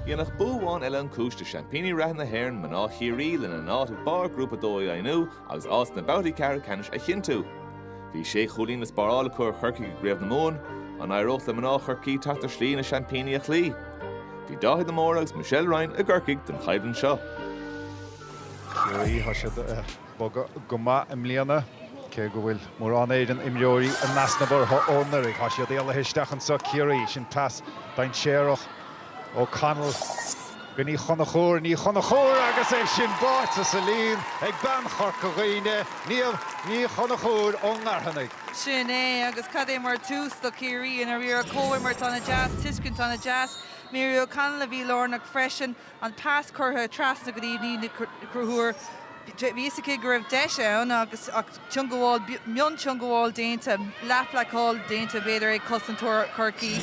Dhéanfadh bua amháin eile an chúis do seaimpíní reatha na hÉireann, mná Chiarraí, lena n-áit ag barr Ghrúpa a Dó a dheimhniú agus áit sna babhtaí ceathrú ceannais a chinntiú. Bhí sé chúilín le spáráil acu ar Chorcaigh i gCraobh na Mumhan, an éireodh le mná Chorcaí teacht ar shlí na seaimpíní a chloí? Bhí Dáithí de Mórdha agus Michelle Ryan i gCorcaigh don choimhlint seo. bogadh go maith i mbliana. Cé go bhfuil mórán éigin imreoirí in easnamh orthu ó anuraidh, tá siad éalaithe isteach anseo, Ciarraí, sin pas dainséarach, O'Connell go Ní Chonchúir, Ní Chonchúir agus é sin báite sa líon ag bean Chorca Dhuibhne, Niamh Ní Chonchúir ón nGaorthanaigh. Sin é, agus cad é mar tús do Chiarraí. I ndáiríre comhimirt ana-dheas, tuiscint ana-dheas. Mary O'Connell a bhí lárnach freisin. an pas curtha trasna go dtí Niamh Ní Chonchúir. Bhí fhios aici go raibh deis ann agus ah teangmháil, mionteangmháil déanta, leathbhlocáil déanta b'fhéidir ag cosantóir Chorcaí.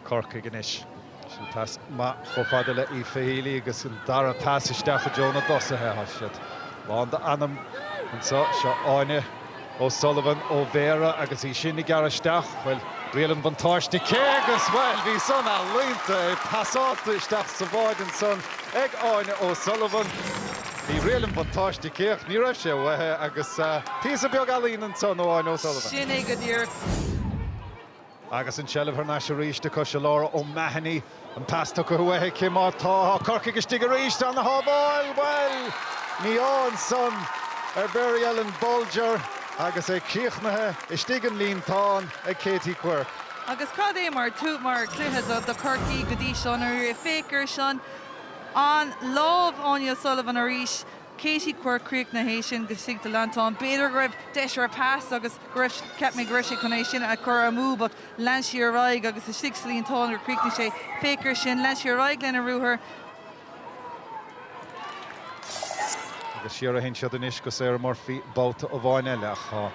Corcaigh anois. Sin pas maith chomh fada le Aoife Healy agus an dara pas isteach i dtreo na dtosaithe. Tá siad lán d'anam anseo. Seo Áine. O'Sullivan ó Bhéara agus í sin ag gearradh isteach, bhuel, riail an bhuntáiste aici agus, bhuel, bhí san ealaíonta, é pasáilte isteach sa bháide ansan ag Áine O'Sullivan, bhí riail an bhuntáiste aici ach ní raibh sé uaithi agus píosa beag ealaíne ansan ó Áine O'Sullivan. Sin é go díreach. Agus an seilbh thar n-ais arís acu, seo Laura O'Mahony, an pas tugtha uaithi aici, má tá, tá Corcaigh istigh arís, ana-shábháil, bhuel, ní ansan, ar Mary Ellen Bolger agus é críochnaithe istigh sa líontán ag Katie Quirke. Agus cad é mar thús, mar chluiche do Chorcaí go dtí seo, ó féach ar sin, an lámh, Áine O'Sullivan arís, Katie Quirke críochnaithe, é sin istigh sa líontán, b'fhéidir go raibh deis ar a pas agus, Cheap mé go raibh sí chun é sin a chur amú but lean sí ar aghaidh agus istigh sa líontán gur chríochnaigh sé. Féach ar sin, lean sí ar aghaidh lena ruathar. Agus siar a théann siad anois go Sarah Murphy babhta amháin eile ach tá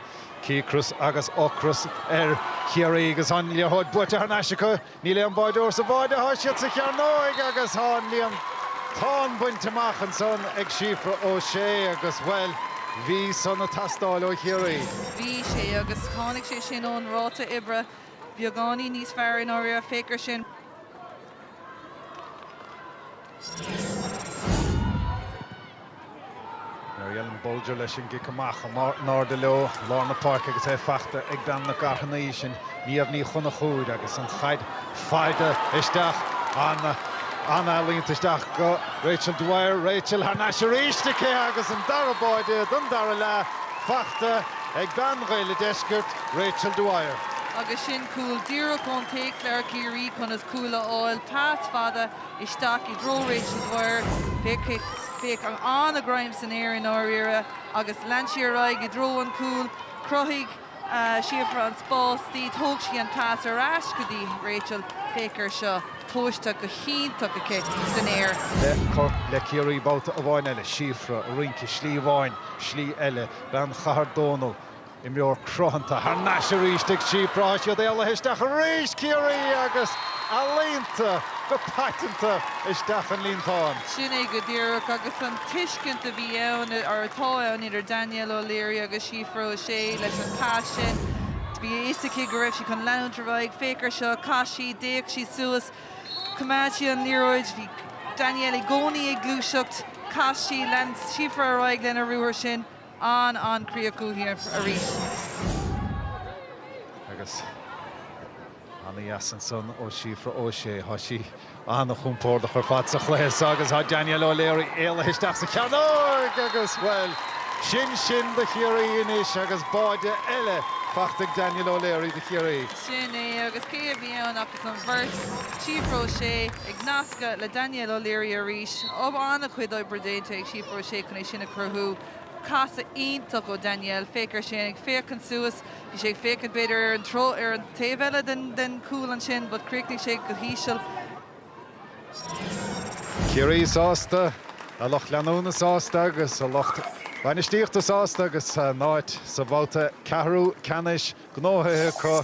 cíocras agus ocras ar Chiarraí agus an liathróid buaite thar n-ais acu. Níl aon bháideoir sa bháide, thá siad sa chearnóig agus thá an líontán bainte amach ansan ag Síofra Ó Sé agus, bhuel, bhí san a teastáil ó Chiarraí. Bhí sé, agus tháinig sé sin ón ráta oibre beagáinín níos fearr i ndáiríre, féach ar sin. Mary Ellen Bolger leis an gcic amach, in airde leo lár na páirce agus é faighte ag bean na gcarthanaí, sin Niamh Ní Chonchúir agus an chaid faighte isteach an-ealaíonta isteach go Rachel Dwyer, Rachel thar n-ais arís aici agus an dara báide don dara leath faighte ag bean Ghaeil a' Deiscirt, Rachel Dwyer. Agus sin cúl díreach ón téacsleabhar, Ciarraí, conas cúl a fháil, pas fada isteach i dtreo Rachel Dwyer. Féach an-ghreim san aer i ndáiríre agus lean sí ar aghaidh i dtreo an chúil. Chruthaigh Síofra an spás di. Thug sí an pas ar ais go dtí Rachel. Féach air seo, tomhaiste go hiontach aici san aer. Le Ciarraí babhta amháin eile, Síofra, rince, slí amháin, slí eile, bean Chathair Dónall. Imreoir cruthanta thar n-ais arís ag Síofra is iad éalaithe isteach arís! Ciarraí agus ealaíonta go paiteanta isteach an líontáin. Sin é go díreach, agus an tuiscint a bhí ann, or atá ann, idir Danielle O'Leary agus Síofra O'Shea leis an pas sin, bhí a fhios aici go raibh sí chun leanúint ar aghaidh, féach air seo, chas sí, d'fhéach sí suas, choimeád sí an liathróid, bhí Danielle i gcónaí ag gluaiseacht, chas sí, lean Síofra ar aghaidh lena ruathar sin. an an críoch uaithi arís. Agus ana dheas ansan ó Síofra O'Shea. Thá sí ana chompórdach ar fad sa chluiche seo agus thá Danielle O'Leary éalaithe isteach sa chearnóig agus bhuel, sin sin do Chiarraí anois agus báide eile faighte ag Danielle O'Leary do Chiarraí. Sin é agus cé a bhí ann ach. an bheirt, Síofra O'Shea ag nascadh le Danielle O'Leary arís, an-chuid oibre déanta ag Síofra O'Shea chun é sin a chruthú, casadh iontach ó Danielle, féach air sin, ag féachaint suas, bhí sé ag féachaint b'fhéidir ar an treo, ar an taobh eile den, den chúl ansin but chríochnaigh sé go híseal. Ciarraí sásta, a lucht leanúna sásta agus a lucht bainistíochta sásta agus a n-áit sa bhabhta ceathrú ceannais gnóthaithe acu.